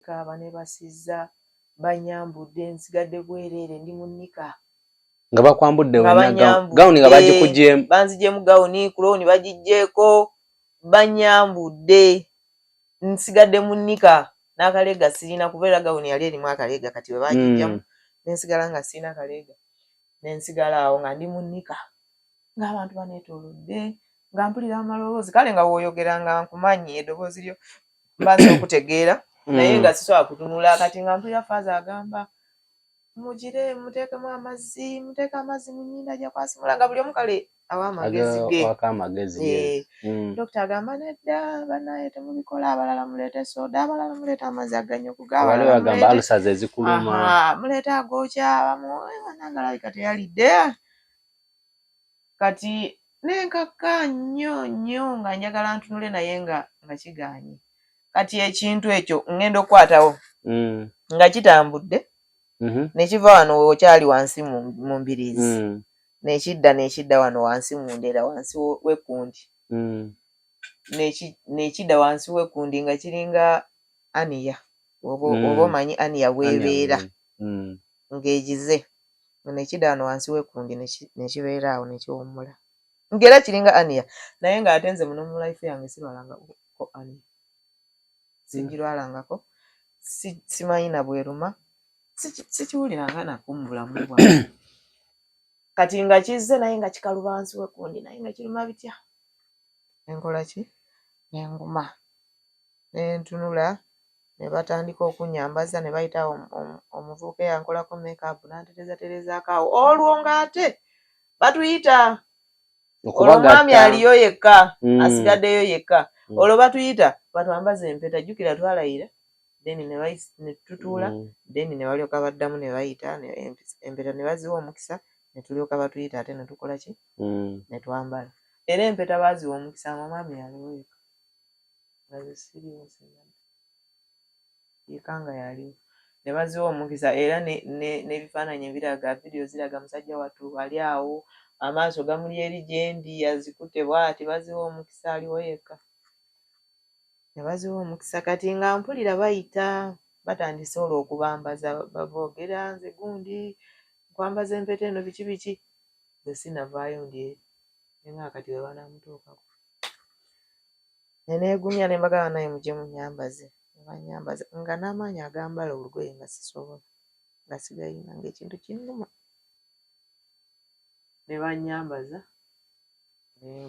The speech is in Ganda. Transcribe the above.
Nika banebasizza banyambudde nsigadde bwereere ndi mu nika. Nga bakwambudde wenna gawuni nga bagikugyemu. Banzigyemu gawuni ku looni bagigyeko banyambudde nsigadde mu nika n'akaleega sirina kuba era gawuni yali erimu akaleega kati bwe bagiggyamu mm. nensigala nga sirina kaleega nensigala awo nga ndi mu nika ng'abantu baneetoolodde nga mpulira amaloboozi kale nga wooyogera nga nkumanyi edoboozi lyo mbanza okutegeera naye nga sisobola kutunula kati nga mpulira faaza agamba mugire muteekemu amazzi muteeke amazzi mu nyinda ajja kwasimula nga buli omu kale awa amagezi ge eh, mm. dokita agamba nedda banaye temubikola abalala muleete soda abalala muleeta amazzi aganyoku gamuleeta agokya bamuwanangalabika teyalidde kati Nenkaka nyo nyo nga njagala ntunule naye nga nga kiganye kati ekintu ekyo ngenda okukwatawo mm. nga kitambudde mm -hmm. nekiva wano wekyali wansi mu mbiriizi mm. nekidda nekidda wano wansi mu ndera wansi wekundi mm. nekidda wansi wekundi nga kiringa aniya oba mm. omanyi aniya webeera mm. ngegize nga nekida wano wansi wekundi nekibeera awo nekiwummula nga era kiringa ania naye nga ate nze muno mu life yange sirwalanga ko ania sijirwalangako simanyi na bweruma sikiwuliranga nakumu bulamu bwa kati nga kizze naye nga kikaluba wansi wekundi naye nga kiruma bitya enkola ki nenguma nentunula ne batandika okunnyambaza ne bayita omuvubuka eyankolako makeup n'antereezatereezaako awo olwo ng'ate batuyita olwo omwami aliyo yekka hmm. asigaddeyo yekka hmm. olwo batuyita batwambaza empeta jjukira twalayira then ne tutuula hmm. then ne balyoka baddamu ne bayita empeta ne baziwa omukisa ne tulyoka batuyita ate ne tukola ki ne twambala era empeta baaziwa omukisa nga omwami yaliwo yekka nga ze siriwo zinadda yeka nga yaliwo ne baziwa omukisa era n'ebifaananyi ebiraga vidiyo ziraga musajja wattu ali awo amaaso gamuli eri gyendi yazikute bwati baziwa omukisa aliwo yekka ne baziwa omukisa kati nga mpulira bayita batandise olwo okubambaza boogera nze gundi nkwambaza empeta eno biki biki ze sinavaayo ndi eri nenga kati webanamutuukako ne neegumya ne mbagamba naye mujje munnyambaze ne bannyambaza nga n'amaanyi agambala olugoye nga sisobola nga sigayina ng'ekintu kinnuma ne bannyambaza ne